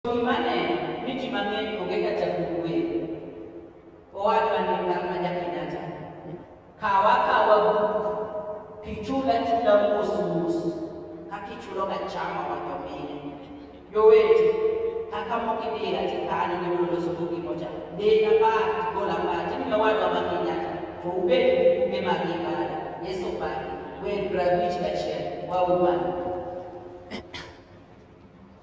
Gima aneno ni ji mang'eny onge ka jagol wer. Owadwa Ndika ma Jakenyatta, kaw akawa buk kichul achula mos mos ka kichulo ka chama wacho mine. Jowete kaka moko idira tikano ni mondo loso bugi mocha. Dina bat gola bat ni owadwa ma Kenyatta to ubed gi buge mag ibada Yesu bang' wer grabich kachiel waumane.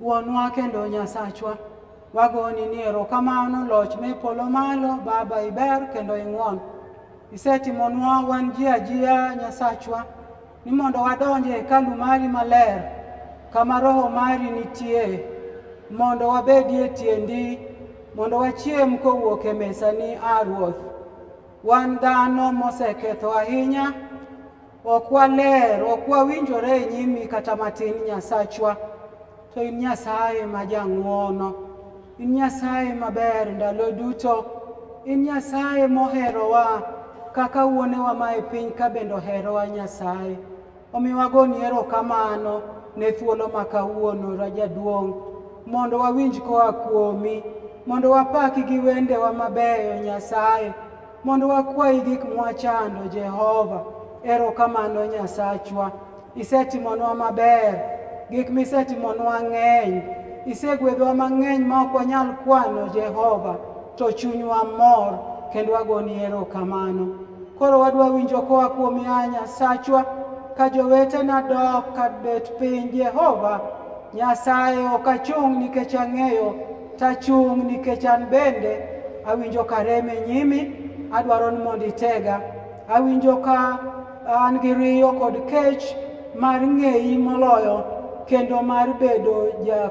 Wuonwa kendo Nyasachwa, wagoni ni erokamano loch me polo malo, Baba iber kendo ing'won. Isetimonwa wan ji ajiya Nyasachwa ni mondo wadonj e hekalu mari maler kama roho mari nitie mondo wabedie tiendi mondo wachiem kowuok e mesani, A Ruoth. Wan dhano moseketho ahinya Ok waler, ok wawinjore e nyimi kata matin Nyasachwa, to in Nyasaye ma jang'wono, in Nyasaye maber ndalo duto, in Nyasaye moherowa kaka wuonewa ma e piny ka bende oherowa Nyasaye. Omiyo wagoni erokamano ne thuolo ma kawuono Rajaduong' mondo wawinj koa kuomi, mondo wapaki gi wendewa mabeyo Nyasaye, Mondo wakwayi gik mwachando, Jehova. Erokamano Nyasachwa, isetimonwa maber, gik misetimonwa ng'eny, isegwedhwa mang'eny ma ok wanyal kwano, Jehova, to chunywa mor kendo wagoni erokamano. Koro wadwa winjo koa kuom ya Nyasachwa ka jowetena dok ka bet piny, Jehova Nyasaye ok achung' nikech ang'eyo Tachung' nikech an bende awinjo ka rem e nyimi, adwaro ni mondo itega. Awinjo ka an gi riyo kod kech mar ng'eyi moloyo kendo mar bedo ja,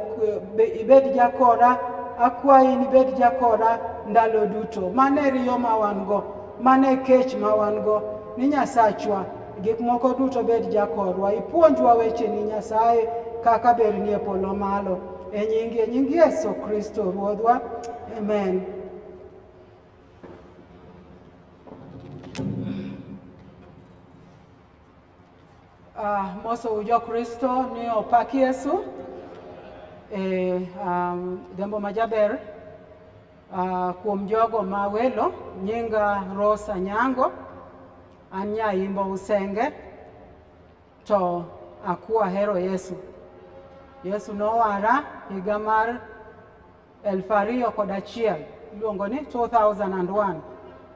be, ibed jakoda akwayi ni bed jakoda ndalo duto. Mane riyo ma wan go, mane kech ma wan go ni Nyasachwa Gik moko duto bed jakorwa, ipuonjwa wecheni Nyasaye kaka berni e polo malo. E nyingi, e nyingi Yesu Kristo Ruodhwa. Amen. Uh, moso ujo Kristo ni opak Yesu e um, jambo majaber uh, kuom jogo ma welo nyinga Rosa Nyango Anya imbo usenge to akuwa hero Yesu. Yesu nowara higa mar elfu ariyo kod achiel iluongo ni 2001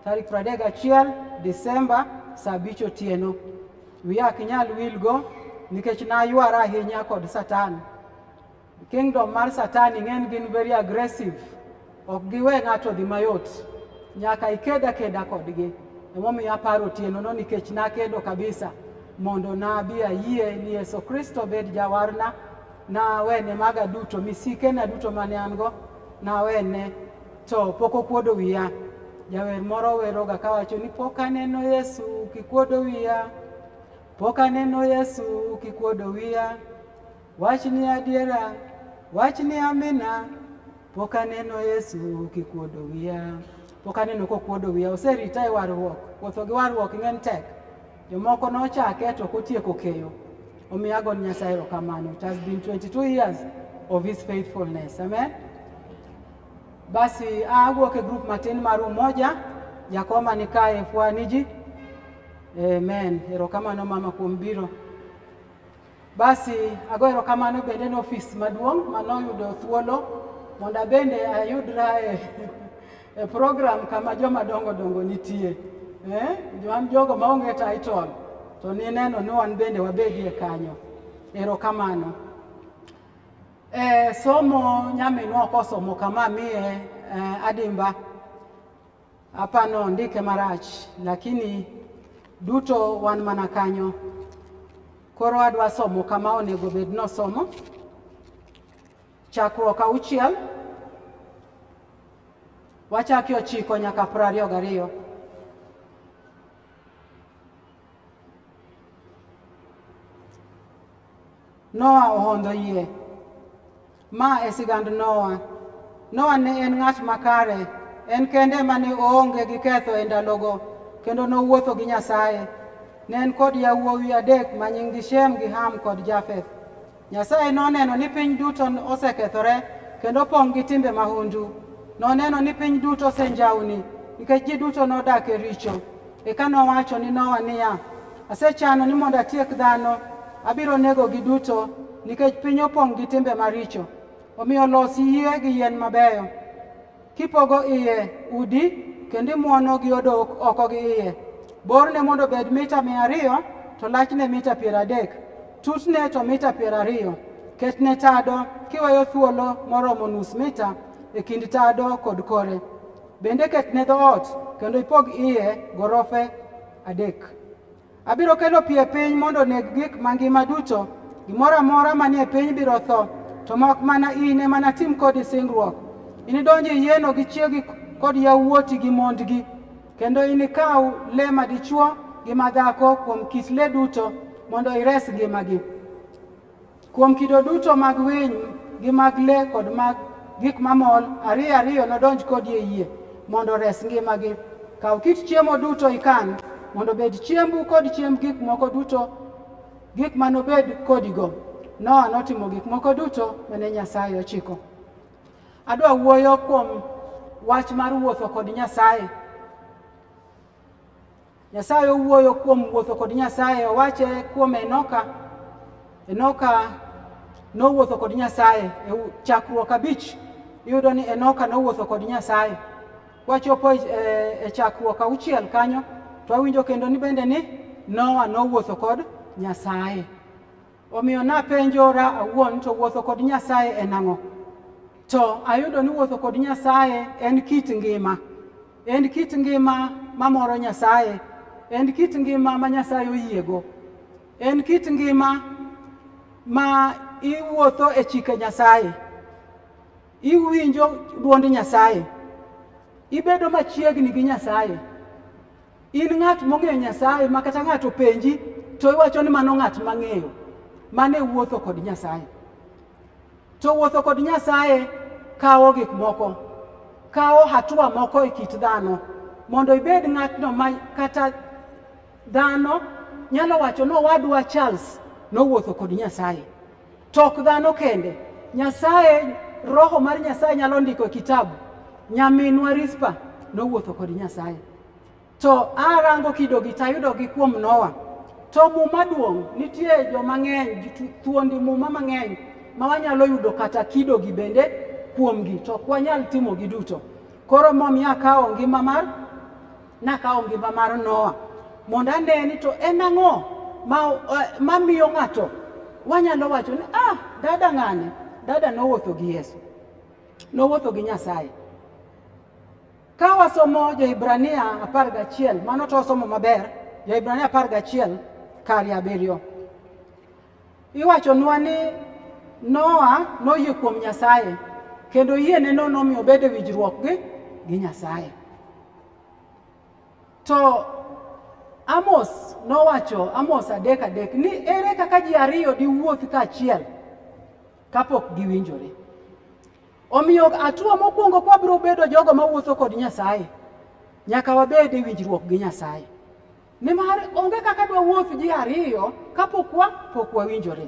tarik 31 Desemba saa abich otieno. Wiya ok nyal wilgo nikech naywara ahinya kod Satan. Kingdom mar Satani ng'eny gin very aggressive, ok giwe ng'ato dhi mayot, nyaka iked akeda kodgi. Emomiyo aparo otienono nikech nakedo kabisa mondo nabi ayie ni Yesu Kristo bed jawarna, nawene maga duto, misikena duto mane an go nawene, to pok okuodo wiya. Jawer moro weroga kawacho ni pok aneno Yesu kikuodo wiya, pok aneno Yesu kikuodo wiya Wach ni adiera, wach ni amina, pok aneno Yesu kikuodo wiya, pok aneno kokuodo wiya, oserita e warruok, wuotho gi warruok ng'eny tek. Jomoko nochake to ok otieko keyo. Omiyo ago ni Nyasaye erokamano. It has been 22 years of his faithfulness. Amen. Basi awuok e group matin mar Umoja, jakoma ni kae fwaniji. Amen. Erokamano mama kuom biro. Basi ago erokamano bende ne ofis maduong' ma noyudo thuolo mondo abende ayudra e, e program kama joma dongo dongo nitie eh? wan jogo maonge title to nineno ni wan bende wabedie kanyo. Erokamano. Eh, somo nyaminwa ok osomo kama miye eh, adimba Hapa no ndike marach lakini duto wan mana kanyo. Koro adwa somo kama onego bed ni osomo chakruok auchiel wachaki ochiko nyaka piero ariyo gariyo. Noa ohondo yie Ma e sigand Noa. Noa ne en ng'at makare, en kende ma ne oonge gi ketho e ndalogo, kendo nowuotho gi Nyasaye. Ne en kod yawuowi adek ma nyinggi Shem gi Ham kod Jafeth. Nyasaye noneno ni piny duto osekethore kendo pong' gi timbe mahundu. Noneno ni piny duto osenjawni nikech ji duto nodak e richo. Eka nowacho ni Noa niya, Asechano ni mondo atiek dhano, abiro negogi duto, nikech piny opong' gi timbe maricho. Omiyo los yie gi yien mabeyo, kipogo iye udi, kendo imwono gi odok oko gi iye. Borne mondo obed mita mia ariyo, to lachne mita piero adek, tutne to mita piero ariyo. Ketne tado, kiweyo thuolo moromo nus mita e kind tado kod kore. Bende ketne dhoot, kendo ipog iye gorofe Adek. Abiro kelo pi e piny mondo oneg gik mangima duto. Gimoro amora manie piny biro tho, to mak mana in ema natim kodi singruok. Inidonj e yieno gi chiegi kod yawuoti gi mondgi, kendo inikaw le madichwo gi madhako kuom kit le duto mondo ires ngimagi. Kuom kido duto mag winy gi mag le kod mag gik mamol, ariyo ariyo nodonj kodi e yie mondo ores ngimagi. Kaw kit chiemo duto ikan, mondo obed chiembu kod chiemb gik moko duto, gik ma nobed kodigo. Noa notimo gik moko duto mane Nyasaye ochiko. Adwa wuoyo kuom wach mar wuotho kod Nyasaye. Nyasaye owuoyo kuom wuotho kod Nyasaye, owache kuom Enoka. Enoka nowuotho kod Nyasaye e chakruok abich, iyudo ni Enoka nowuotho kod Nyasaye. Wachopo e, e chakruok auchiel kanyo, to wawinjo kendo ni bende ni Noa nowuotho kod Nyasaye. Omiyo napenjora awuon to wuotho kod Nyasaye en ang'o? To ayudo ni wuotho kod Nyasaye en kit ngima. En kit ngima mamoro Nyasaye. En kit ngima ma Nyasaye oyiego. En kit ngima ma iwuotho e chike Nyasaye. Iwinjo dwond Nyasaye. Ibedo machiegni gi Nyasaye. In ng'at mong'eyo Nyasaye ma kata ng'ato penji to iwacho ni mano ng'at mang'eyo, mano e wuotho kod Nyasaye. To wuotho kod Nyasaye kawo gik moko, kawo hatua moko e kit dhano mondo ibed ng'atno ma kata dhano nyalo wacho ni owadwa Charles nowuotho kod Nyasaye. Tok dhano kende. Nyasaye, roho mar Nyasaye nyalo ndiko e kitabu. Nyaminwa Rispa nowuotho kod Nyasaye. To arango kidogi tayudogi kuom Noah. To muma duong' nitie jo mang'eny, thuondi muma mang'eny ma wanyalo yudo kata kidogi bende kuomgi, to ok wanyal timogi duto. Koro momiyo akawo ngima mar Nakawo ngima mar Noa mondo ane ni to en ang'o eh, mamiyo ng'ato wanyalo wacho ni ah, dada ng'ane, dada nowuotho gi Yesu, nowuotho gi Nyasaye. Ka wasomo Joibrania apar gachiel, mano to wasomo maber, Joibrania apar gachiel kari abiriyo. Iwachonwa ni Noa noyie kuom Nyasaye kendo yieneno nomiyo obedo e winjruok gi gi Nyasaye. To Amos nowacho Amos adek adek ni ere kaka ji ariyo diwuoth kaachiel kapok giwinjore. Omiyo atua mokwongo kwabiro bedo jogo mawuotho kod Nyasaye nyaka wabed e winjruok gi Nyasaye. Nimar onge kaka dwa wuoth ji ariyo kapok wa pok wawinjore.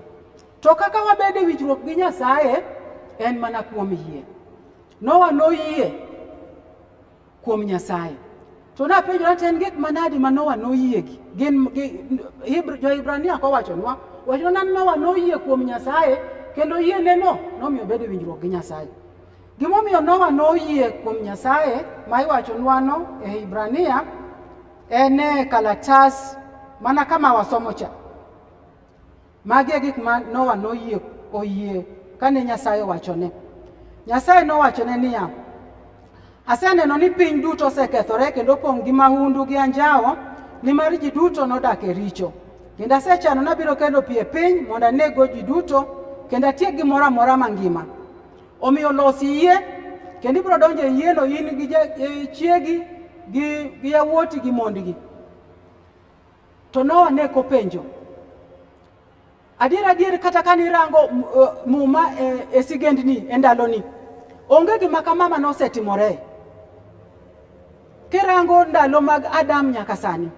To kaka wabede winjruok gi Nyasaye en mana kuom yie. Nowa noyie kuom Nyasaye. To napenjo ni en gik manadi ma Nowa noyie gi? Gin jo-Hibrania kowachonwa, wacho nan Nowa noyie kuom Nyasaye kendo yie neno nomiyo bedo winjruok gi Nyasaye. Gimomiyo Nowa noyie kuom Nyasaye ma iwachonwano e Hibrania ene kalatas mana kama wasomo cha magi e gik ma Nowa noyie oyie kane Nyasaye owachone. Nyasaye nowachone niya, aseneno ni piny duto osekethore kendo opong' gi mahundu gi anjawo, nimar ji duto nodak e richo. Kendo asechano nabiro kelo pi e piny mondo aneggo ji duto kendo atiek gimoro amora mangima. Omiyo los yie kendo ibiro donjo e yieno in gi e chiegi gi gi yawuoti gi mondgi. To Noa ne kopenjo adier adier, kata ka nirango uh, muma e, e sigendni e ndaloni, onge gima kama ma nosetimore. Kirango ndalo mag Adam nyaka sani,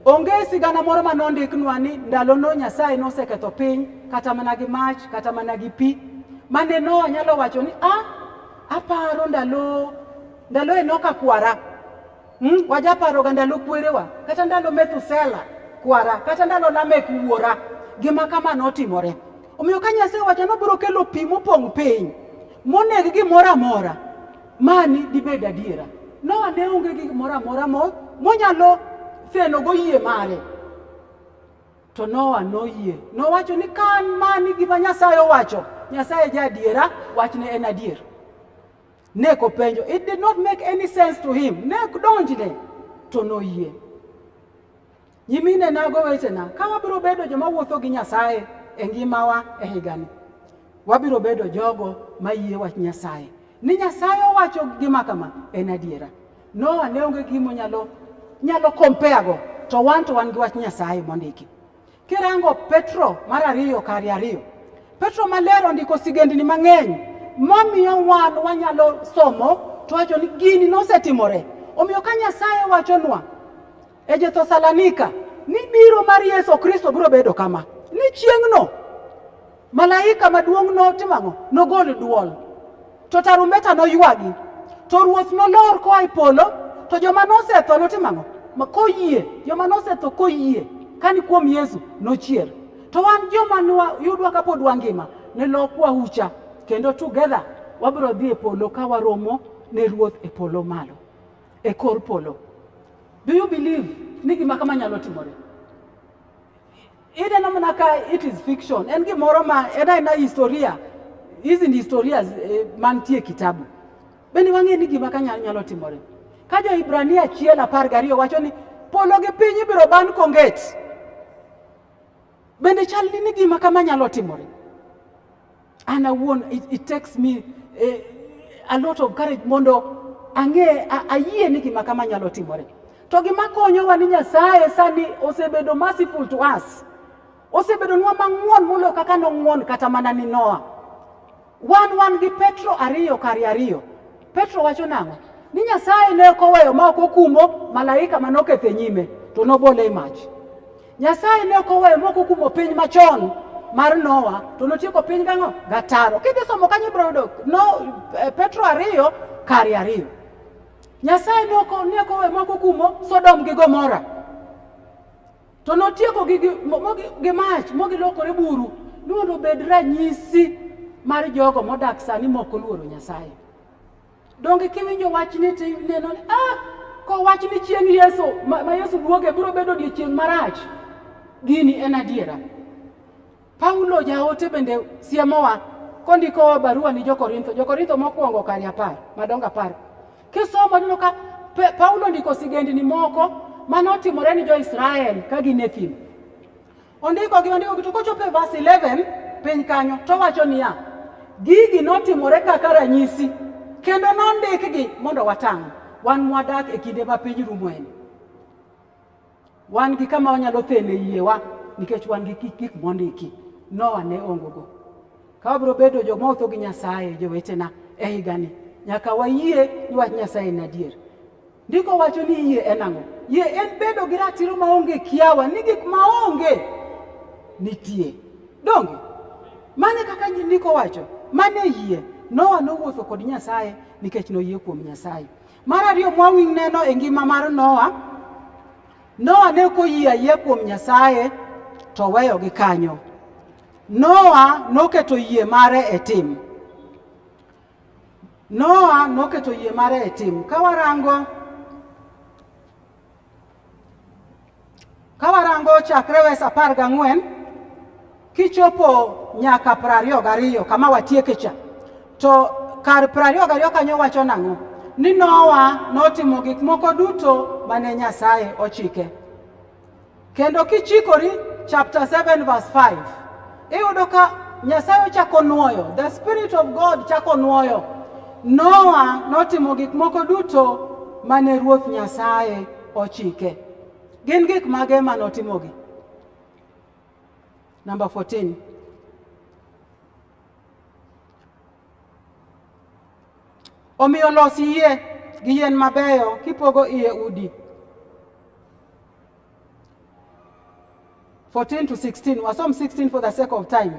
onge sigana moro ma nondiknwa ni ndalono Nyasaye noseketho piny kata mana gi mach kata mana gi pi mane Noa nyalo wacho ni a ah, aparo ndalo ndalo Enoka kwara hmm? wajaparoga ndalo kwerewa kata ndalo Methusela kwara kata ndalo Lamek wuora gima kama notimore omiyo ka Nyasaye wacho nobiro kelo pi mopong' piny moneg gimoro amora Mani dibed adiera. Noa ne onge gi moro amora monyalo thenogo yie mare. To Noa noyie. Nowacho ni ka an mani gima Nyasaye owacho, Nyasaye ja adiera, wachne en adier. Ne kopenjo, it did not make any sense to him. Ne donjne to noyie. Nyimine nago wetena, ka wabiro bedo joma wuotho gi Nyasaye e ngimawa e higani, wabiro bedo jogo ma yie wach Nyasaye. Ni Nyasaye owacho gima kama en adiera. Noa ne onge gimo nyalo nyalo kompeago to wan to wan gi wach Nyasaye mondiki. Kirango Petro mar ariyo kari ariyo, Petro maler ondiko sigendni mang'eny mamiyo wan wanyalo somo to wacho ni gini nosetimore. Omiyo ka Nyasaye wachonwa E jo Thessalonika ni biro mar Yesu Kristo biro bedo kama ni chieng'no malaika maduong' notimo ang'o? Nogol dwol to tarumbeta noywagi to ruoth nolor koa e polo to joma nosetho notimo ang'o? Koyie, joma nosetho koyie kani kuom Yesu nochier. To wan joma yudwa kapod wangima ne lokwa ucha kendo together wabiro dhi e polo ka waromo ne ruoth e polo malo. e kor polo. Do you believe ni gima kama nyalo timore? Ineno mana ka it is fiction, en gimoro ma en aena historia, hizi ni historia eh, mantie kitabu. Bende wang'e ni gima kanya nyalo timore. Ka jo Ibrania achiel apar gariyo wacho ni polo gi piny ibiro ban konget. Bende chal ni gima kama nyalo timore. An awuon it, it takes me eh, a lot of courage mondo ang'e ayie ni gima kama nyalo timore. To gima konyowa ni Nyasaye sani osebedo merciful to us. Osebedonwa mang'won molo kaka nong'won kata mana ni Noah. Wan wan gi Petro ariyo kari ariyo. Petro wacho nang'o? Ni Nyasaye ne ok oweyo ma ok okumo malaika ma noketho e nyime to nobole e mach. Nyasaye ne ok oweyo ma ok okumo piny machon mar Noa to notieko piny gang'o? Gataro. Kidhi somo kanyo ibiro yudo no, eh, Petro ariyo kari ariyo. Nyasaye ne ok oweyo ma ok okumo Sodom gi Gomora. To notieko gi gi mach mogilokore buru ni mondo obed ranyisi mar jogo modak sani mok oluoro Nyasaye. Donge kiwinjo wach ni to ineno ni ah, kowach ni chieng' Yesu ma, ma Yesu duoge biro bedo odiechieng' marach. Gini en adiera. Paulo jaote bende siemowa kondikowa barua ni Jokorintho, Jokorintho mokwongo kari apar madongo apar. Kisomo neno ka Paulo ndiko sigendni moko mane otimore ni jo-Israel ka gin e thim. Ondikogi ondikogi to kochopo e verse 11 piny kanyo to wacho niya, gigi notimore kaka ranyisi kendo nondikgi mondo watang' wan mwadak e kinde ma piny rumoeni. Wan gi kama wanyalo thene yiewa nikech wan gi gik mondiki. Noa ne ongogo. Ka wabiro bedo joma otho gi Nyasaye, jowetena, e higani, nyaka wayie ni wach Nyasaye en adier. Ndiko wacho ni yie en ang'o? Yie en bedo gi ratiro maonge kiawa ni gik maonge nitie. Donge? Mane kaka ndiko wacho, mane yie. Noa nowuotho kod Nyasaye nikech noyie kuom Nyasaye. Mar ariyo mwawiny neno e ngima mar Noa, Noa ne ok oyie ayie kuom Nyasaye to weyo gi kanyo. Noa noketo yie mare e tim. Noa noketo yie mare e tim. Ka warango Ka warango chakre wes apar gang'wen kichopo nyaka piero ariyo gariyo kama watieke cha to kar piero ariyo gariyo kanyo wacho nang'o ni Nowa notimo gik moko duto mane Nyasaye ochike. Kendo kichikori chapter 7 verse 5 iyudo ka Nyasaye ochako nuoyo, the spirit of God chako nuoyo. Noa notimo gik moko duto mane Ruoth Nyasaye ochike. Gin gik mage ma notimogi? Number 14. Omiyo los yie gi yien mabeyo kipogo iye udi 14 to 16 wasom 16 for the sake of time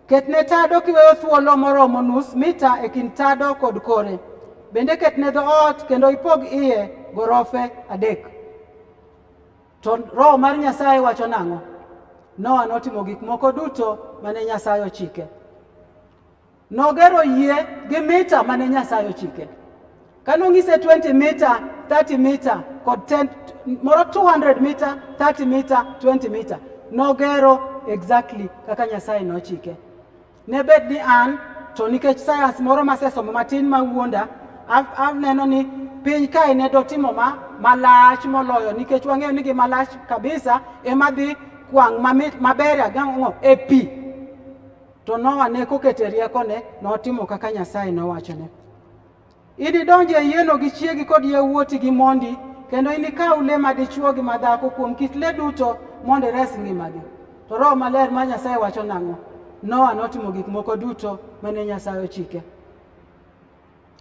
ketne tado kiweyo thuolo moromo nus mita e kind tado kod kore bende ketne dhoot kendo ipog iye gorofe adek to roho mar nyasaye wacho nang'o noa notimo gik moko duto mane nyasaye ochike Nogero yie gi mita mane Nyasaye ochike. Kane onyise 20 mita, 30 mita kod 10 moro 200 mita, 30 mita, 20 mita. Nogero exactly kaka Nyasaye nochike. Ne bed ni an to nikech sayans moro masesomo matin ma wuonda, aneno ni piny kae ne dotimo ma malach moloyo nikech wang'eyo ni gi malach kabisa ema dhi kwang' maberia gang'o e pi To Noa ne kokete riekone, notimo kaka Nyasaye nowachone. Inidonj e yieno gi chiegi kod yawuoti gi mondi, kendo inikaw le madichwo gi madhako kuom kit le duto mondo ires ngimagi. To Roho Maler ma Nyasaye wacho nang'o? Noa notimo gik moko duto mane Nyasaye ochike.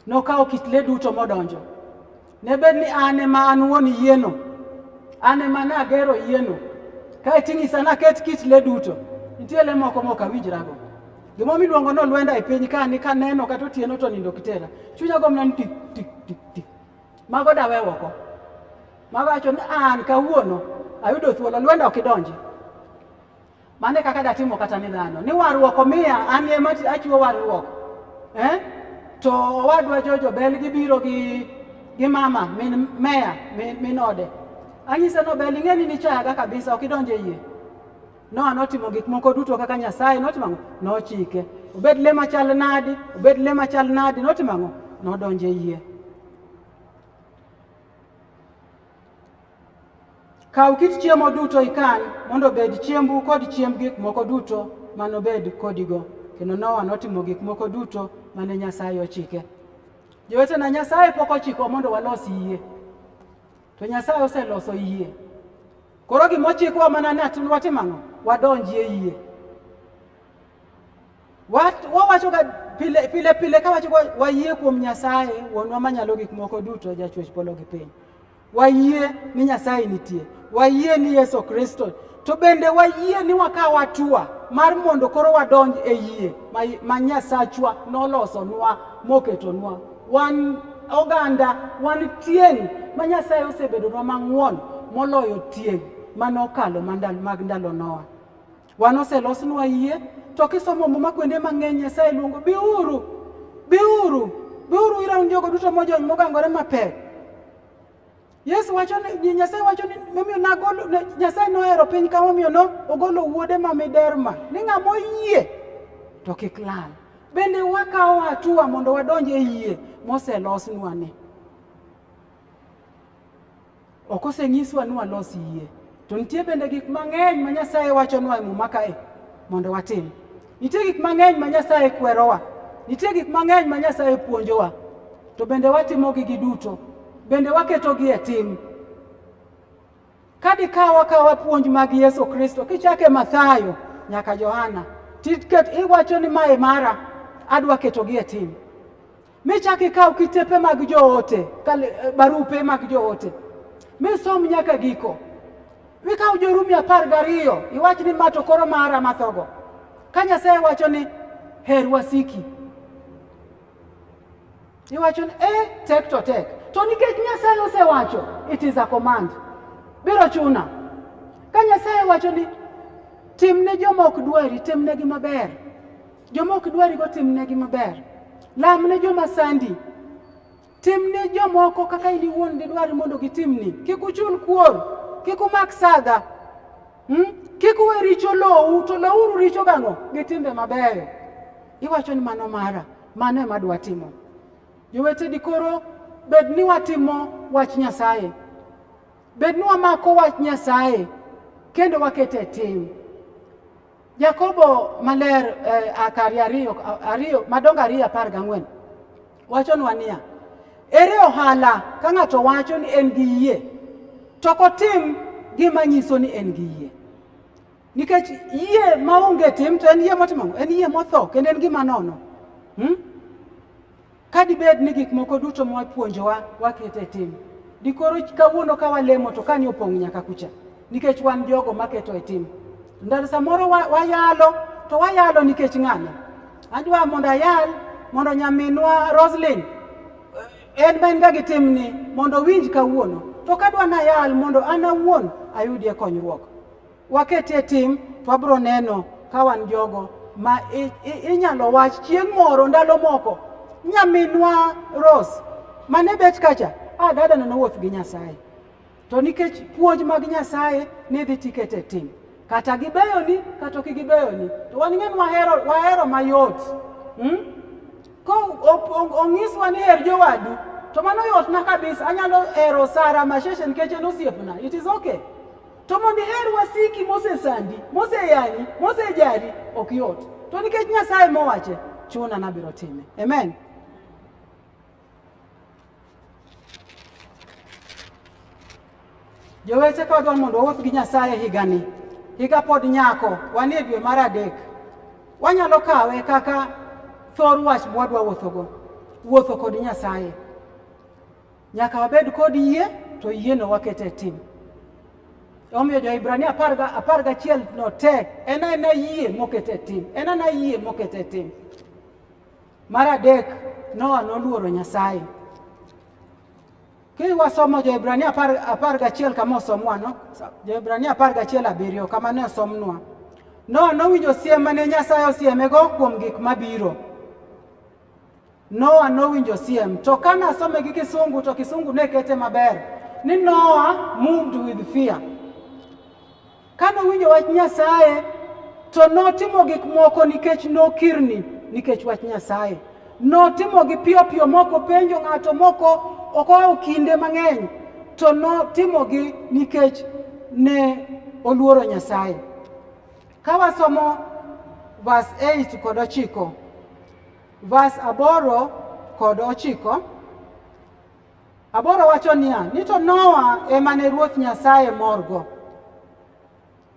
Nokawo kit le duto modonjo. Ne bed ni an ema an wuon yieno, an ema nagero yieno, kae ting'isa naket kit le duto. Nitie le moko mok awinjrago. Gima miluongo ni olwenda e piny ka ni kaneno kata otieno to nindo kitera. Chunya gomna ni tik tik tik tik. Mago dawe oko. Mago wacho ni an kawuono ayudo thuolo olwenda ok idonji. Mano e kaka datimo kata ni dhano ni warruok omiya an ema achiwo warruok eh? to owadwa Jojo Bel gibiro gi gi mama min meya min, min ode anyise no Bel ing'eni ni chayaga kabisa ok idonje yie Noa notimo gik moko duto kaka Nyasaye notimo ang'o? Nochike. Obed le machal nadi, obed le machal nadi, notimo ang'o? Nodonje yie. Kaw kit chiemo duto ikan mondo obed chiembu kod chiemb gik moko duto manobed kodigo. Kendo Nowa notimo gik moko duto mane Nyasaye ochike. Jowetena, Nyasaye pok ochiko mondo walos yie, to Nyasaye oseloso yie. Koro gima ochikwa mana ni watim ang'o? Wadonji e yie. Wawachoga pile pile pile kawacho wayie kuom Nyasaye, wuonwa manyalo gik moko duto, jachwech polo gi piny. Wayie ni Nyasaye nitie, wayie ni Yesu Kristo, to bende wayie ni wakawo atua mar mondo koro wadonj e yie ma Nyasachwa nolosonwa moketonwa. Wan oganda, wan tieng' ma Nyasaye osebedonwa mang'won moloyo tieng' manokalo mag ndalo Noa. Wan oselosnwa yie to kisomo muma kuonde mang'eny Nyasaye luongo biuru, biuru, biuru ira un jogo duto mojony mogangore mapek. Yesu wacho ni Nyasaye wacho ni momiyo nagolo Nyasaye nohero piny ka momiyo no ogolo wuode ma miderma ni ng'ama oyie to kik lal. Bende wakawo hatua mondo wadonj e yie moselosnwa ni. Ok osenyiswa ni walos yie. To nitie bende gik mang'eny ma Nyasaye wachonwa e Muma kae mondo watim. Nitie gik mang'eny ma Nyasaye kwerowa. Nitie gik mang'eny ma Nyasaye puonjowa. To bende watimogi gi duto. Bende waketogi e tim. Ka dikaw akawa puonj mag Yesu Kristo kichake Mathayo nyaka Johana, tiket iwacho ni mae mara, adwa ketogi e tim. Me chake kaw kitepe mag joote, eh, barupe mag joote, me som nyaka giko. Mikaw Jorumi apar gariyo iwach ni ma to koro mara mathogo. Ka Nyasaye wacho ni her wasiki, iwacho ni eh, tek to tek, to nikech Nyasaye osewacho, it is a command, biro chuna. Ka Nyasaye wacho ni tim ne joma ok dwari, tim negi maber Joma ok dwarigo timnegi maber. Lam ne joma sandi. Tim ne jomoko kaka in iwuon didwar mondo gitimni. Kik uchul kuor, kik umak sadha. Hmm? Kik uwe richo lowu, to lowuru richo gang'o? Gi timbe mabeyo. Iwacho ni mano mara, mano ema adwa timo. Jowete dikoro bed ni watimo wach Nyasaye. Bed ni wamako wach Nyasaye kendo wakete e tim. Jakobo maler eh, akari ariyo, ariyo madongo ariyo apar gang'wen wachonwa niya, ere ohala ka ng'ato wacho ni en gi yie to kotim gima nyiso ni en gi yie? Nikech yie maonge tim to en yie motimo en yie motho kendo en gima nono. Hmm? Ka dibed ni gik moko duto ma wapuonjowa waketo e tim, dikoro kawuono ka walemo to kani opong' nyaka kucha, nikech wan jogo maketo e tim. Ndalo samoro wayalo to wayalo nikech ng'ano? Adwa mondo ayal mondo nyaminwa Roslyn eh, en ma en ga gi timni mondo owinj kawuono, to kadwa nayal mondo an awuon ayudie konyruok. Wakete e tim to wabiro neno ka wan jogo ma inyalo wach chieng' moro ndalo moko nyaminwa Rose mane bet kacha a ah, dada neno wuoth gi Nyasaye to nikech puonj mag Nyasaye ne dhi tiket e tim kata gibeyoni kata ok gibeyoni to wan ng'en wahero, wahero mayot hmm? ko onyiswa ni her jowadu to mano yotna kabisa anyalo hero Sara Masheshe nikech en osiepna it is okay To mondo iher wasiki mosesandi, moseyani, mosejari ok yot. To nikech Nyasaye mowache, chuna nabiro time. Amen. Jowete ka wadwaro mondo wawuoth gi Nyasaye higani, higa pod nyako, wan e dwe mar adek, wanyalo kawe kaka thor wach mwadwa wuothogo, wuotho kod Nyasaye. Nyaka wabed kod yie to yieno wakete tim. Omiyo Jo-Hibrania apar gachiel no te en ena yie mokete tim, en ena yie mokete tim. Mar adek, Noa noluoro Nyasaye. Ki wasomo Joibrania apar gachiel kama osomwano, Joibrania apar gachiel abiriyo kama ne osomnwa. Noa nowinjo siem mane Nyasaye osiemego kuom gik mabiro. Noa nowinjo siem, to kane asome gi Kisungu to Kisungu ne kete maber ni Noa moved with fear. Kane owinjo wach Nyasaye to notimo gik moko nikech nokirni nikech wach Nyasaye. Notimo gi piyo piyo moko penjo ng'ato moko okawo kinde mang'eny to notimo gi nikech ne oluoro Nyasaye. Ka wasomo verse 8 kod 9 Vas aboro kod ochiko aboro wacho niya ni to Noa ema ne Ruoth Nyasaye morgo.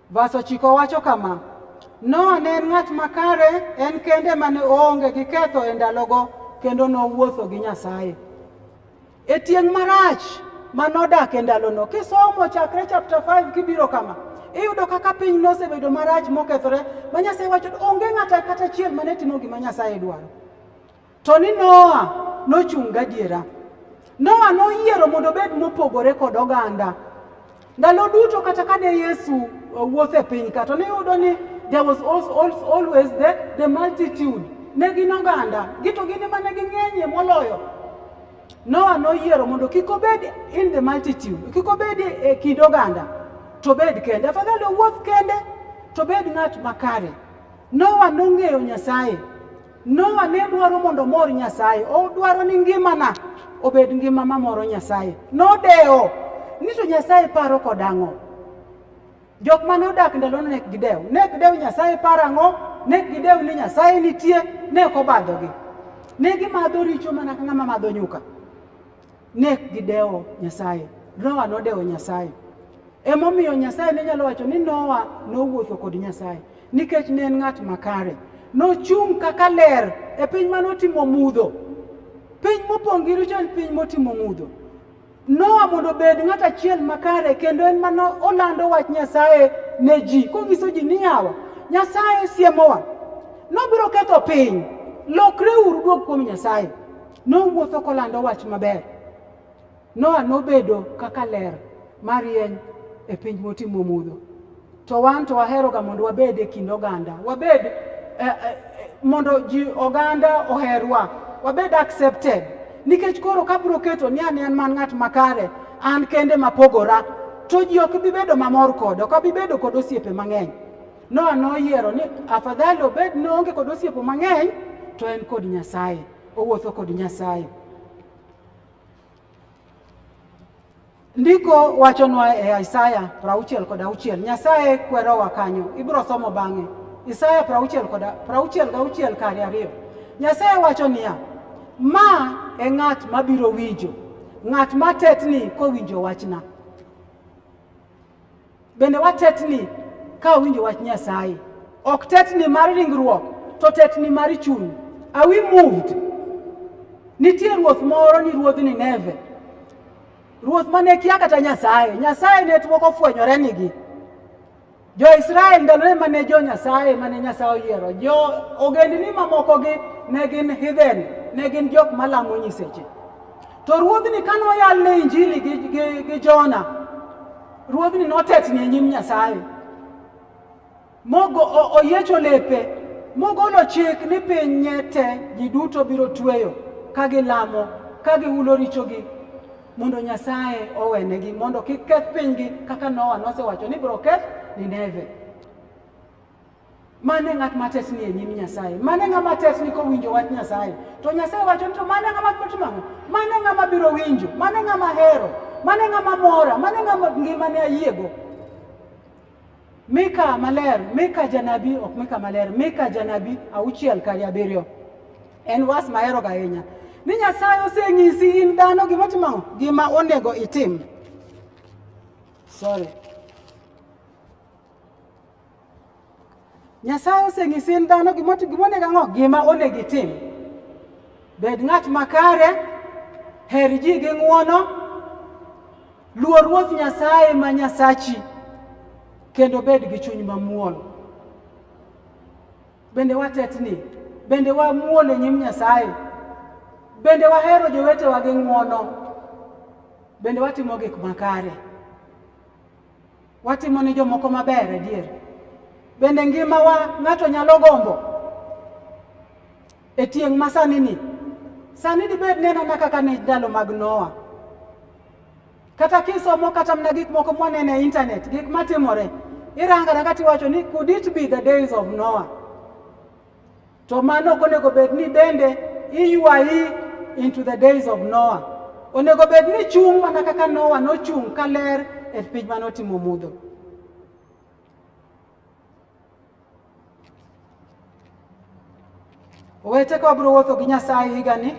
Vas ochiko wacho kama Noa ne en ng'at makare, en kende mane oonge gi ketho e ndalogo kendo nowuotho gi Nyasaye. E tieng' marach ma nodak e ndalono, kisomo chakre chapter 5 kibiro kama, iyudo kaka piny nosebedo marach mokethore, ma Nyasaye wacho onge ng'ata kata achiel mane timo gima Nyasaye dwaro. To ni Noa nochung' gadiera. Noa noyiero mondo obed mopogore kod oganda. Ndalo duto kata kane Yesu uh, wuotho e piny ka to ne yudo ni there was also, also always the, the multitude ne gin oganda gito gin ema ne ging'enyie moloyo Noa noyiero mondo kik obed in the multitude kik obed e kind oganda to bed kende afadhali owuoth kende to bed ng'at makare Noa nong'eyo Nyasaye Noa ne dwaro mondo omor Nyasaye, odwaro ni ngimana obed ngima mamoro Nyasaye. Nodewo ni to Nyasaye paro kod ang'o? Jok ma nodak ndalono ne gidew, ne gidew Nyasaye paro ang'o? Ne gidew ni Nyasaye nitie, ne ok obadhogi. Ne gimadho richo mana ka ng'ama madho nyuka. Ne gidewo Nyasaye. Noa nodewo Nyasaye. Emomiyo Nyasaye ne nyalo wacho ni Noa nowuotho kod Nyasaye nikech ne en ng'at makare. Nochung' kaka ler e piny mane otimo mudho. Piny mopong' gi richo en piny motimo mudho. Noa mondo obed ng'at achiel makare kendo en mane olando wach Nyasaye ne ji konyiso ji ni yawa Nyasaye siemowa nobiro ketho piny lokreuru duog kuom Nyasaye Nowuotho kolando wach maber. Noa nobedo kaka ler marieny e piny motimo mudho. To wan to waheroga mondo wabed e kind oganda, wabed eh, eh, mondo ji oganda oherwa, wabed accepted. Nikech koro kabro keto ni an en man ng'at makare, an kende mapogora, to ji ok bi bedo mamor koda, ok abi bedo kod osiepe mang'eny. Noa noyiero ni afadhali obed ni oonge kod osiepe mang'eny to en kod Nyasaye. Owuotho kod Nyasaye. Ndiko wachonwa e Isaya prauchiel kod auchiel, Nyasaye kwerowa kanyo, ibiro somo bang'e. Isaya prauchiel kod prauchiel gauchiel kari ariyo. Nyasaye wacho niya, ma e ng'at mabiro winjo, ng'at matetni kowinjo wachna. Bende watetni ka winjo wach Nyasaye. Ok tetni mar ringruok, to tetni mar chuny. Are we moved? Nitie ruoth moro ni ruodh Nineve. Ruoth mane kia kata Nyasaye. Nyasaye ne tuo kofwenyore nigi. Jo-Israel ndalore mane jo-Nyasaye mane Nyasaye oyiero. Jo ogendni mamokogi ne gin heathen, ne gin jok malamo nyiseche. To ruodhni ka noyalne injili gi, gi, gi Jona, ruodhni notetni e nyim Nyasaye mogo oyiecho lepe mogolo chik ni piny nye te ji duto biro tweyo ka gilamo ka gihulo richogi mondo Nyasaye owenegi mondo kik keth pinygi kaka Noa nosewacho ni biro keth Nineve. Mane ng'at mates ni e nyim Nyasaye? Mane ng'ama tes ni kowinjo wach Nyasaye? To Nyasaye wacho ni to mane ng'ama timo ang'o? Mane ng'ama biro winjo? Mane ng'ama hero? Mane ng'ama mora? Mane ng'ama ngimane ayiego? Mika maler, Mika janabi, ok Mika maler, Mika janabi auchiel kari abiriyo. En was mahero ga ahinya. Ni Nyasaye osenyisi in dhano gima timo ang'o? Gima onego itim. Sorry. Nyasaye osenyisi in dhano gima onego ang'o gima onego itim. Bed ng'at makare, her ji gi ng'wono, luo Ruoth Nyasaye ma Nyasachi, kendo bed gi chuny mamuol. Bende watetni, bende wamuol e nyim Nyasaye, bende wahero jowetewa gi ng'wono, bende watimo gik makare. Watimo ne jomoko maber adier. Bende ngimawa ng'ato nyalo gombo e tieng' ma sani ni. Sani dibed neno na kaka ne ndalo mag Noa. Kata kisomo kata mna gik moko mwaneno e intanet, gik matimore, irangara kata iwacho ni could it be the days of Noah? To mano ok onego bed ni bende iywayi into the days of Noah. Onego bed ni chung' mana kaka Noah nochung' ka ler e piny mane otimo mudho. Owete ka wabiro wuotho gi Nyasaye higa ni,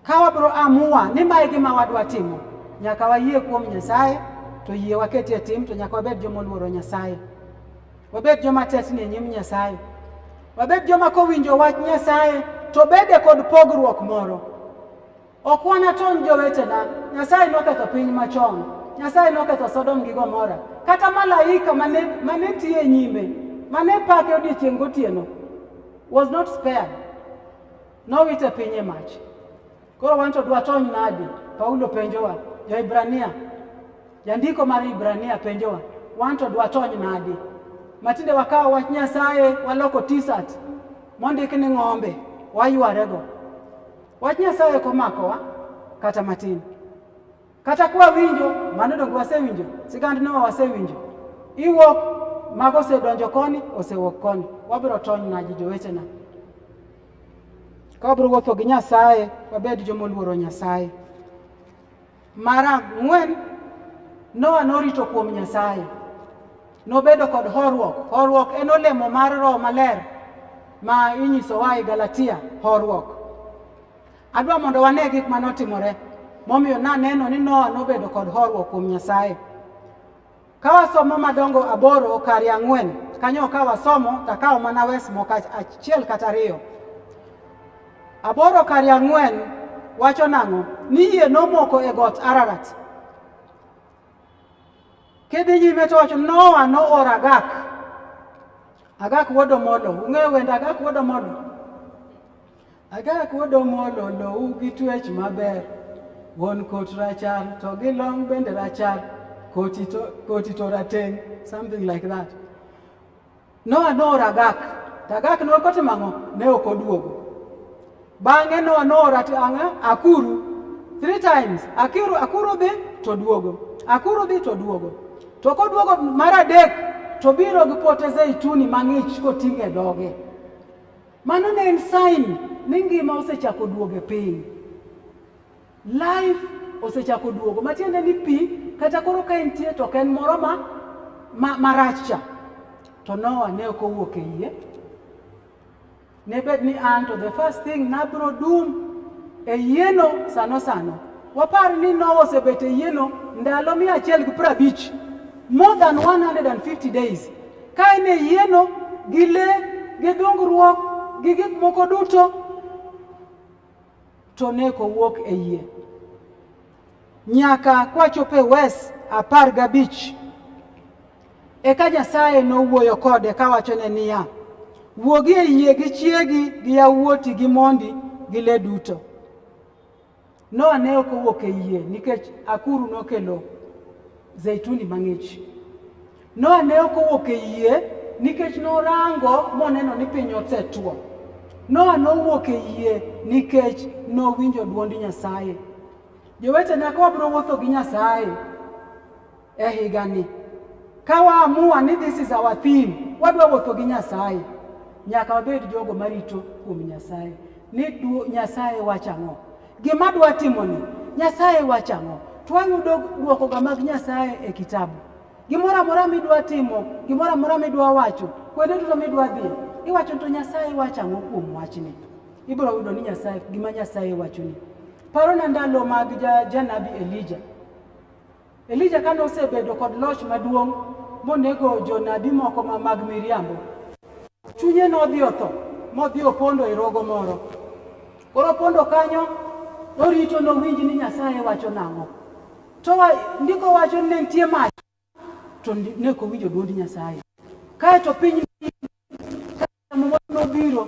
ka wabiro amua ni mae gima wadwa timo, nyaka wayie kuom Nyasaye to yie waketie tim to nyaka wabed joma oluoro Nyasaye. Wabed joma tetni e nyim Nyasaye. Wabed joma kowinjo wach Nyasaye to bede kod pogruok moro. Ok wanatony jowetena. Nyasaye noketho piny machon. Nyasaye noketho Sodom gi Gomora. Kata malaika mane, mane tiyo e nyime, mane pake odiechieng' gotieno was not spared. Nowite piny e mach. Koro wanto dwa tony nadi? Paulo penjowa, ja Ibrania, jandiko mar Ibrania penjowa, wanto dwa tony nadi? Matinde wakawo wach Nyasaye waloko t-shirt mondik ni ng'ombe waywarego. Wach Nyasaye ok omakowa kata matin. Kata kwa winjo mano donge wasewinjo, sigand Noa wasewinjo. Iwuok mago osedonjo koni, osewuok koni. Wabiro tony nadi jowetena? Ka wabiro wuotho gi Nyasaye, wabed joma oluoro Nyasaye. Mar ang'wen, Noa norito kuom Nyasaye. Nobedo kod horuok. Horuok en olemo mar Roho Maler ma inyisowa e Galatia, horuok. Adwa mondo wane gik ma notimore momiyo naneno ni Noa nobedo kod horuok kuom Nyasaye. Ka wasomo madongo aboro kari ang'wen, kanyo ka wasomo takawo mana wes moko achiel kata ariyo. Aboro kari ang'wen wacho nang'o? Ni yie nomoko e got Ararat. Kidhi nyime to wacho Noa noor Agak. Agak wuod Omolo. Ung'eyo wend Agak wuod Omolo? Agak odomolo lowu gi twech maber, wuon kot rachar to gi long bende rachar, koti to, koti to rateng, something like that. Noa nooro Agak, to Agak ne okotimo ang'o? Ne ok oduogo. Bang'e Noa nooro ang'a? Akuru. Three times. Akuru, akuru dhi to duogo. Akuru dhi to duogo. To koduogo mar adek to biro gi pote zeituni mang'ich koting'e dhoge. Mano ne en sign ni ngima osechako duogo e piny. Life osechako duogo matiende ni pi kata koro ka entie to ok en moro ma marach ma cha. To Noah ne ok owuok e yie. Ne bed ni an to the first thing nabro dum e yieno sano sano. Wapar ni Noah osebet e yieno ndalo mia achiel gi prabich more than 150 days Ka in e yieno, gi le, gi dhungruok, gi gik moko duto, to neko wuok e yie. Nyaka kwachopo e wes apar gabich eka Nyasaye nowuoyo kode kawachone niya, wuogi e yie gi chiegi gi yawuoti gi mondi gi le duto. Noa ne ok owuok e yie nikech akuru nokelo zeituni mang'ich. Noa ne ok owuok e yie nikech norango moneno ni piny osetwo. Noa nowuok e yie nikech nowinjo dwond Nyasaye. Jowetena ka wabiro wuotho gi Nyasaye e higani. Ka waamua ni this is our theme, wadwa wuotho gi Nyasaye, nyaka wabed jogo marito kuom Nyasaye ni Nyasaye wacho ang'o, gima dwa timoni Nyasaye wacho ang'o. Twayudo dwokoga mag Nyasaye e kitabu. Gimoro amora midwa timo, gimoro amora midwa wacho, kuonde duto midwa dhi, iwacho to Nyasaye wacho ang'o kuom wachni. Ibiro yudo ni Nyasaye gima Nyasaye wachoni. Parona ndalo mag janabi Elija. Elija kane osebedo kod loch maduong' monego jonabi moko ma mag miriambo, chunye nodhi otho modhi opondo e rogo moro. Koro opondo kanyo norito nowinj ni Nyasaye wacho nang'o. To ndiko wacho ni ne nitie mach to ne ok owinjo dwond Nyasaye. Kae to piny nobiro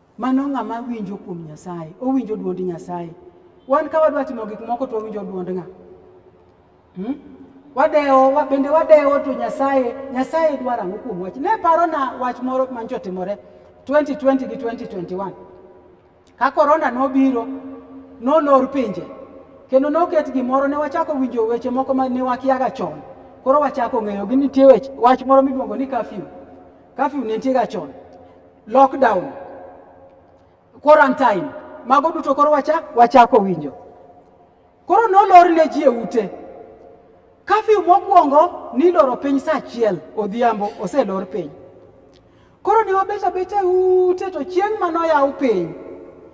Mano ng'ama winjo kuom Nyasaye, owinjo dwond Nyasaye. Wan ka wadwa timo gik moko to owinjo dwond ng'a? Hmm? Wadewo, bende wadewo to Nyasaye, Nyasaye dwaro ang'o kuom wach? Ne paro na wach moro mancho timore 2020 gi 2021. Ka korona nobiro, nolor pinje, kendo noket gimoro, ne wachako winjo weche moko ma ne wakiaga chon. Koro wachako ng'eyo gi nitie wach moro miluongo ni kafyu. Kafyu ne nitiega chon. lockdown, quarantine, mago duto koro wacha wachako winjo. Koro nolor ne ji e ute. Kafyu mokwongo niloro piny saa achiel odhiambo, oselor piny. Koro ne wabet abeta e ute to chieng' ma noyaw piny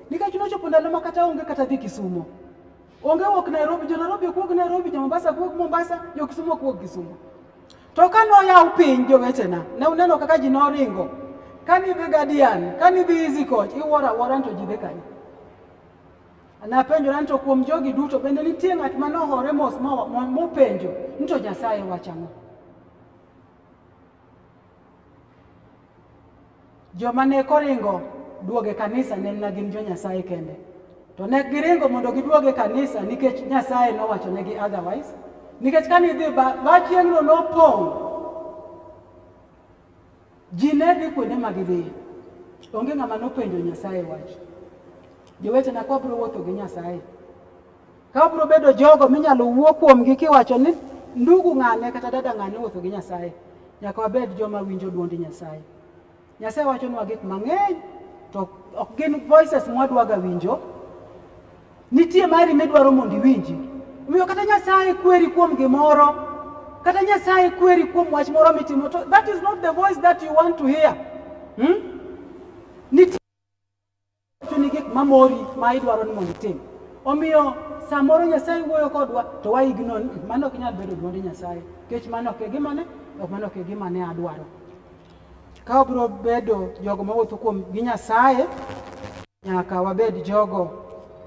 nikech nochopo ndalo ma kata onge kata dhi Kisumo. Onge wuok Nairobi, jo Nairobi ok wuog Nairobi, jo Mombasa ok wuog Mombasa, jo Kisumo ok wuog Kisumo. To ka noyaw piny jowetena, ne uneno kaka ji noringo. Ka nidhi Gadian, ka nidhi Easy Coach, iwuoro awuora to ji dhi kanye? Napenjora ni to kuom jogi duto bende nitie ng'at ma nohore mos mopenjo ni to Nyasaye wacho ang'o? Joma ne koringo duoge kanisa ne na gin jo Nyasaye kende. To ne giringo mondo giduoge kanisa nikech Nyasaye nowacho negi otherwise. Nikech kane idhi ba chieng'no nopong', ji ne dhi kuonde ma gidhiye. Onge ng'ama nopenjo Nyasaye wach. Jowetena kwabiro wuotho gi Nyasaye. Ka biro bedo jogo minyalo wuo kuomgi kiwacho ni ndugu ng'ane kata dada ng'ane wuotho gi Nyasaye, nyaka wabed joma winjo dwond Nyasaye. Nyasaye wachonwa gik mang'eny to ok gin voices mwadwaga winjo. Nitie mari midwaro mondo iwinji. Omiyo kata Nyasaye kweri kuom gimoro, kata Nyasaye kweri kuom wach moro mitimo, to that is not the voice that you want to hear. Hmm? Nitie chuni gik mamori ma idwaro ni mondo itim. Omiyo samoro Nyasaye wuoyo kodwa to wa ignore ni mano ok nyal bedo dwond Nyasaye nikech mano ok e gima ne ok mano ok e gima ne adwaro. Ka wabiro bedo jogo mawuotho kuom gi Nyasaye nyaka wabed jogo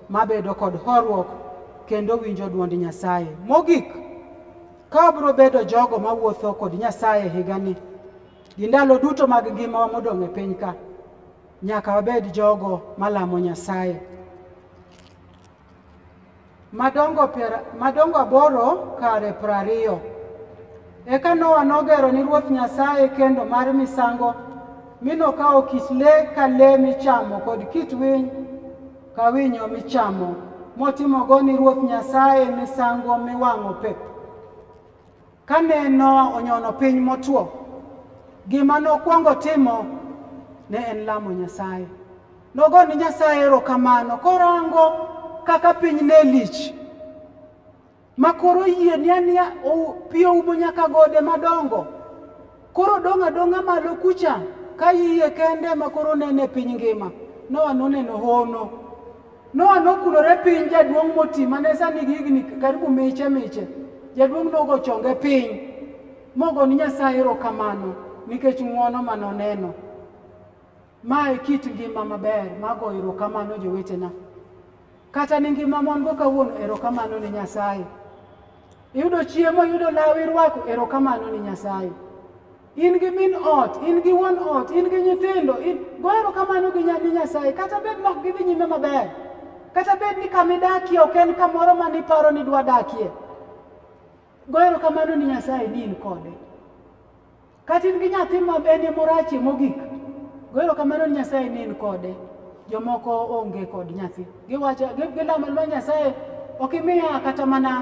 mabedo kod horuok kendo winjo dwond Nyasaye. Mogik, ka wabiro bedo jogo mawuotho kod Nyasaye higani gi ndalo duto mag ngimawa modong' e piny ka Nyaka wabed jogo malamo Nyasaye. Madongo, per, madongo aboro kare prariyo. Eka Noa nogero ni Ruoth Nyasaye kendo mar misango, mi nokawo kit le ka le michamo kod kit winy ka winyo michamo, motimogo ni Ruoth Nyasaye misango miwang'o pep. Kane Noa onyono piny motwo, gima nokwongo timo ne en lamo Nyasaye. Nogo ni Nyasaye erokamano korango kaka piny ne lich ma koro yie ni ania pi oumo nyaka gode madongo. Koro dong' adong'a malo kucha ka iye kende ma koro nene piny ngima. Noa noneno hono. Noa nokulore piny jaduong' moti mane sani higni karibu miche miche. Jaduong' nogo chonge piny mogo ni Nyasaye erokamano nikech ng'wono ma noneno. Ma e kit ngima maber mago erokamano jowetena. Kata ni ngima mon go kawuono erokamano ni Nyasaye. Iyudo chiemo, iyudo law irwako erokamano ni Nyasaye. In gi min ot, in gi wuon ot, in gi nyithindo, in go erokamano gi ni Nyasaye kata bed nok gidhi nyime maber. Kata bed ni kama idakie ok en kamoro ma niparo ni dwa dakie. Go erokamano ni Nyasaye ni in kode. Kata in gi nyathi ma bende morachi mogik, go erokamano ni Nyasaye ni in kode. Jomoko onge kod nyathi. Giwacho, gilamo lwa Nyasaye, ok imiya kata mana,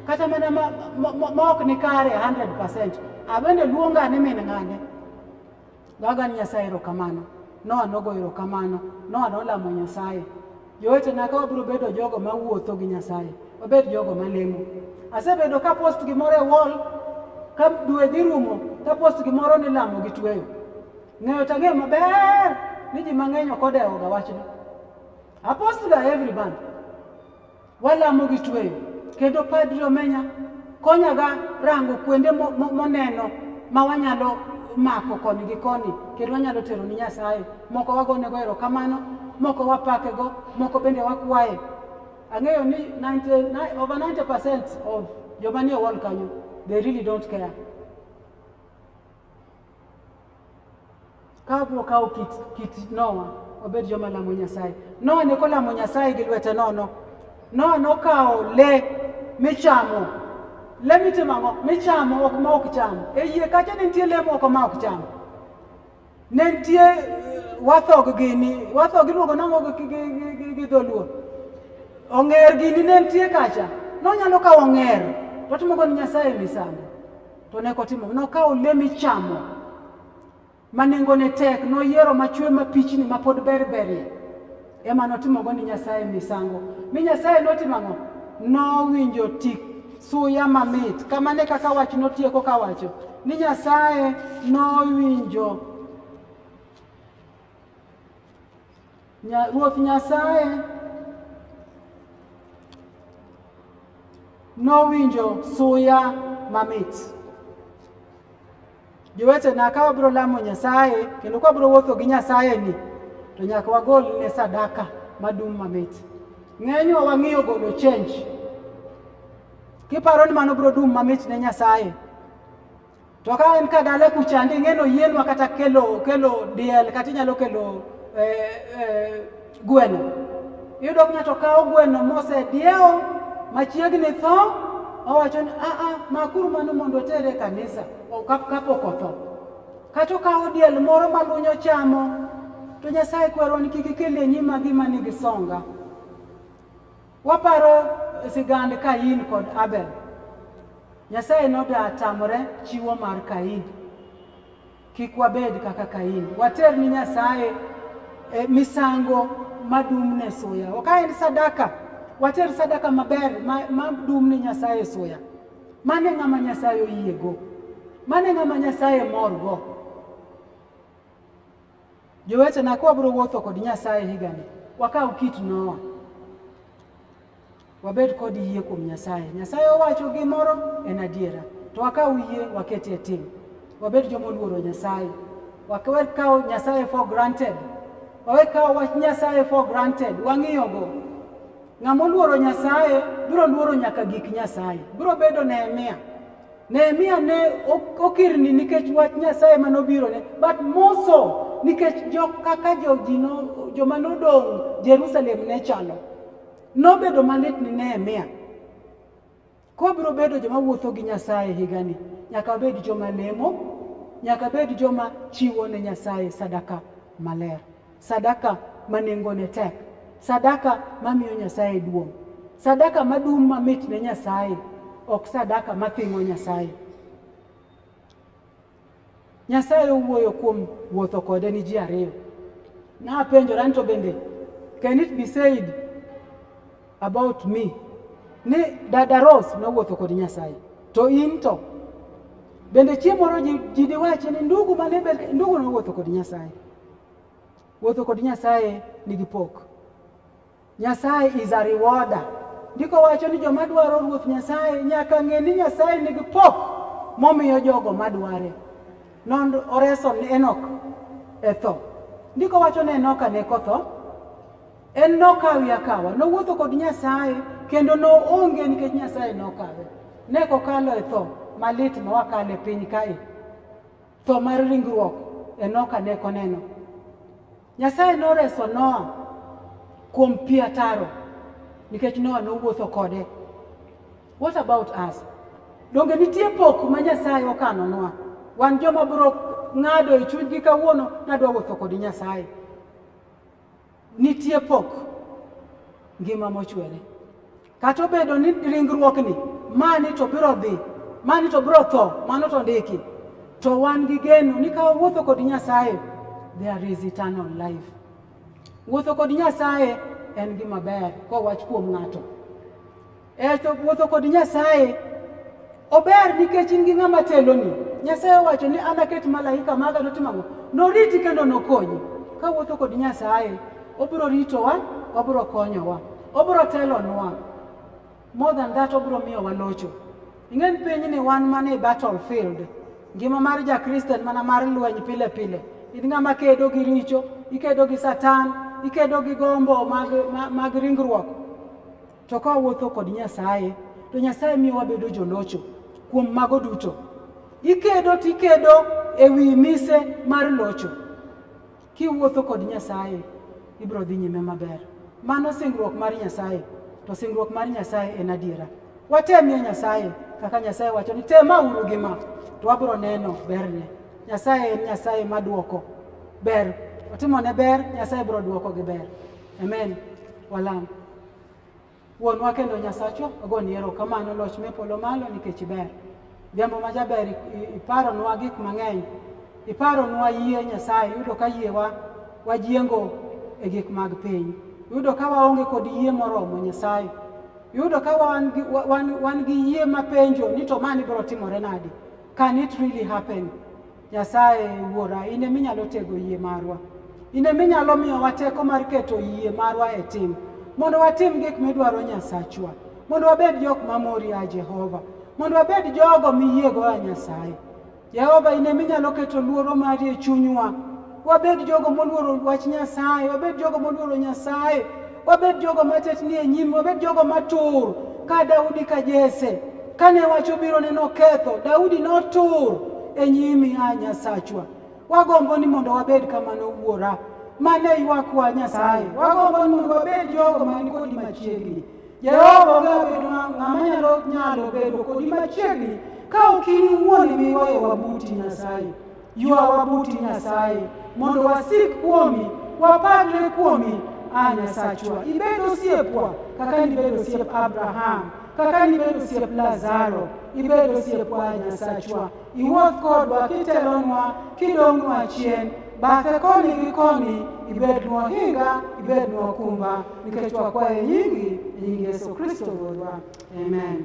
kata mana ma, ma, ma, ma ok ni kare 100%. Abende luonga ni min ng'ane. Goaga ni Nyasaye erokamano. Noa nogo erokamano. Noa nolamo Nyasaye. Jowetena ka wabiro bedo jogo ma wuotho gi Nyasaye, wabed jogo ma lemo. Asebedo ka post gimoro e wall ka dwe dhi rumo ka post gimoro ni lamo gi tweyo. Ng'eyo to ang'eyo maber ni ji mang'eny ok odewoga wachno. Apostga every month. Walamo gi tweyo kendo padri omenya Konyaga rango kuonde moneno ma wanyalo mako koni gi koni kendo wanyalo tero ni Nyasaye. Moko wagonego erokamano, moko wapakego, moko bende wakwaye. Ang'eyo ni 90, over 90% of joma nie wall kanyo, they really don't care. ka biro kawo kit, kit Nowa obed joma lamo Nyasaye. Nowa ne kolamo Nyasaye gi lwete nono. Nowa nokawo le michamo. Le mitimo ang'o? Michamo ok ma ok cham. E yie kacha ne nitie le moko ma ok cham. Ne nitie eh, wathog gini, wathog iluongo nang'o gi dholuo. Ong'er gini ne nitie kacha. Nonyalo kawo ong'er, to otimogo ni Nyasaye misango. To ne kotimo nokawo olemb ichamo ma nengone tek, noyiero machwe mapichni ma pod ber berie, ema notimogo ni Nyasaye misango. Mi Nyasaye notimo ang'o? Nowinjo tik suya mamit. Kamano e kaka wach notieko kawacho ni Nyasaye nowinjo Ruoth Nyasaye nowinjo suya mamit. Jowetena, ka wabiro lamo Nyasaye kendo ka wabiro wuotho gi Nyasaye ni to nyaka wagol ne sadaka madum mamit. Ng'enywa wang'iyo golo change kiparo ni mano biro dum mamit ne Nyasaye. To ka en ka dala kucha ndi ng'eno yienwa kata kelo kelo diel kata inyalo kelo eh, eh, gweno. Iyudo ng'ato kawo gweno mose diewo machiegni tho owacho ni a a makuru mano mondo otere kanisa kapok otho. Kata okawo diel moro malunyo chamo to Nyasaye kwero ni kik ikel e nyima gima nigi songa. Waparo sigand Kain kod Abel. Nyasaye nodatamore chiwo mar Kain. Kik wabed kaka Kain. Water ni Nyasaye eh, misango madum ne suya. Ok en sadaka. Water sadaka maber madum ma ne Nyasaye suya. Mane ng'ama Nyasaye oyiego. Mane ng'ama Nyasaye morgo. Jowetena, ka wabiro wuotho kod Nyasaye higani, wakaw kit Noa, wabed kod yie kuom Nyasaye. Nyasaye owacho gimoro en adiera, to wakaw yie waketie tim, wabed joma oluoro Nyasaye, wakawe kawo Nyasaye for granted, wawe kawo wach Nyasaye for granted, wang'iyogo. Ng'ama oluoro Nyasaye biro luoro nyaka gik Nyasaye, biro bedo Nehemia. Nehemia ne okirni nikech wach Nyasaye ma nobirone, but more so nikech jo kaka jojino joma nodong' Jerusalem ne chalo. Nobedo malit ni Nehemia. Kobiro bedo joma wuotho gi Nyasaye higani, nyaka bed joma lemo, nyaka bed joma chiwo ne Nyasaye sadaka maler. Sadaka ma nengone tek, sadaka mamiyo Nyasaye duong', sadaka madum mamit ne Nyasaye, ok sadaka mathingo Nyasaye. Nyasaye owuoyo kuom wuotho kode ni ji ariyo. Napenjora ni to bende can it be said about me ni dada Rose nowuotho kod Nyasaye to in to bende chieng' moro ji diwachi ni ndugu mane ndugu nowuotho kod Nyasaye Wuotho kod Nyasaye nigi pok. Nyasaye is a rewarder. Ndiko wacho ni joma dwaro Ruoth Nyasaye nyaka ng'e ni Nyasaye nigi pok momiyo jogo madware. Non oreso ni Enok e tho. Ndiko wacho ni Enoka ne kotho. En nokawi akawa, nowuotho kod Nyasaye kendo noonge nikech Nyasaye nokawe. Ne kokalo e tho malit ma wakale piny kae. Tho mar ringruok Enoka ne koneno. Nyasaye noreso Noa kuom pi ataro nikech Noa nowuotho kode. What about us? Donge nitie pok ma Nyasaye okanonwa? Wan joma bro ng'ado e chunygi kawuono nadwa wuotho kod Nyasaye. Nitie pok ngima mochwere. Kata obedo ni ringruokni mani to biro dhi, mani to biro tho, mano to ndiki. To wan gi geno ni ka wawuotho kod Nyasaye, there is eternal life. Wuotho kod Nyasaye en gima ber kowach kuom ng'ato. E to wuotho kod Nyasaye ober nikech in gi ng'ama teloni. Nyasaye owacho ni an aket malaika maga notimo ang'o? Noriti kendo nokonyi. Ka wuotho kod Nyasaye, obiro ritowa, obiro konyowa, obiro telonwa. More than that, obiro miyowa locho. Ing'e ni pinyni wan mana e battlefield. Ngima mar Jakristo en mana mar lweny pile pile. In ng'ama kedo gi richo, ikedo gi Satan, ikedo gi gombo mag, mag, mag ringruok To ka wawuotho kod Nyasaye, to Nyasaye miyo wabedo jolocho kuom mago duto. Ikedo tikedo e wi mise mar locho. Kiwuotho kod Nyasaye, ibiro dhi nyime maber. Mano singruok mar Nyasaye, to singruok mar Nyasaye en adiera. Watemie Nyasaye kaka Nyasaye wacho ni tema uru gi ma, to wabiro neno berne. Nyasaye en Nyasaye maduoko ber, otimone ber, Nyasaye biro duoko gi ber. Amen. Walam. Wuonwa kendo Nyasachwa, ogoni erokamano loch me polo malo nikech iber. Jambo ma jaber iparonwa gik mang'eny. Iparonwa yie Nyasaye, yudo ka yiewa wajiengo e gik mag piny. Yudo ka waonge kod yie moromo Nyasaye. Yudo ka wan, wan, wan gi yie mapenjo ni to mani biro timore nadi? Can it really happen? Nyasaye Wuora, in ema inyalo tego yie marwa. In ema inyalo miyowa teko mar keto yie marwa e tim, mondo watim gik midwaro Nyasachwa, mondo wabed jok mamori ya Jehova, mondo wabed jogo miyiego ya Nyasaye. Jehova, in ema inyalo keto luoro mari e chunywa. Wabed jogo moluoro wach Nyasaye, wabed jogo moluoro Nyasaye, wabed jogo matetni e nyim, wabed jogo matur ka Daudi ka Jese. Kane wach obiro ne noketho, Daudi notur e nyimi, a Nyasachwa. Wagombo ni mondo wabed kamano wuora. Mane ywakwa Nyasaye. Wagombo ni mondo wabed jogo man kodi machiegni. Jehova onge bedo ng'ama nyalo nyalo bedo kodi machiegni ka ok in iwuon imiyowa buti Nyasaye. Ywawa buti Nyasaye mondo wasik kuomi, wapadre kuomi, a Nyasachwa. Ibed osiepwa kaka nibed osiep Abraham, kaka nibed osiep Lazaro, ibed osiepwa a Nyasachwa. Iwuoth kodwa kitelonwa, kidong'nwa chien, bathe koni gi koni, ibednwa hinga, ibednwa okumba, nikech wakwaye nyingi, e nying Yesu Kristo Wuodwa. Amen.